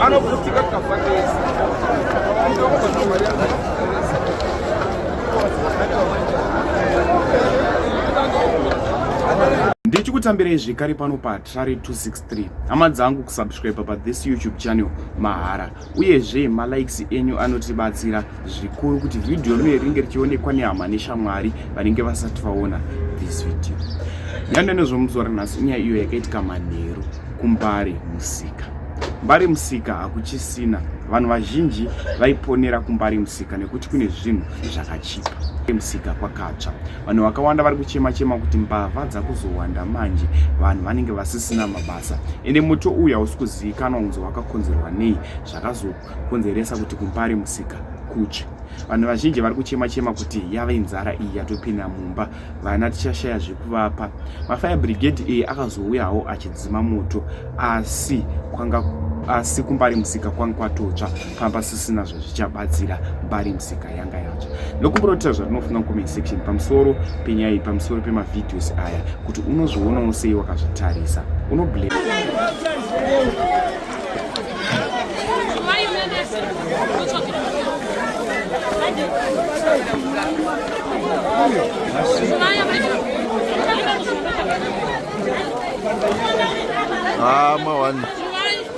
anoputika kafanesi ndichikutambirei zvekare pano patrary 263 hama dzangu kusubscribe pa this youtube channel mahara uyezve malikes enyu anotibatsira zvikuru kuti vhidhiyo rino ringe richionekwa nehama neshamwari vanenge vasati vaona this video yandanezvomuzora nhasi inyaya iyo yakaitika manheru kumbare musika mbare musika hakuchisina vanhu vazhinji vaiponera kumbare musika nekuti kune zvinhu zvakachipa musika kwakatsva Vanhu vakawanda vari kuchema chema kuti mbavha dzakuzowanda manje, vanhu vanenge vasisina mabasa, ende moto uyu hausi kuzivikanwa kunzi wakakonzerwa nei, zvakazokonzeresa kuti kuMbare musika kutsve. Vanhu vazhinji vari kuchema chema kuti yave inzara iyi yatopinda mumba, vana tichashaya zvekuvapa. Mafire brigade iyi akazouyawo achidzima moto, asi kwanga asi kuMbare musika kwanga kwatotsva. pavasisina zvazvichabatsira bari musika yanga yatsva nokumboratidza zvatinofunga mucomment section pamusoro penyaya iyi pamusoro pemavideos aya kuti unozvionawo sei wakazvitarisa unoblame Ah, my one.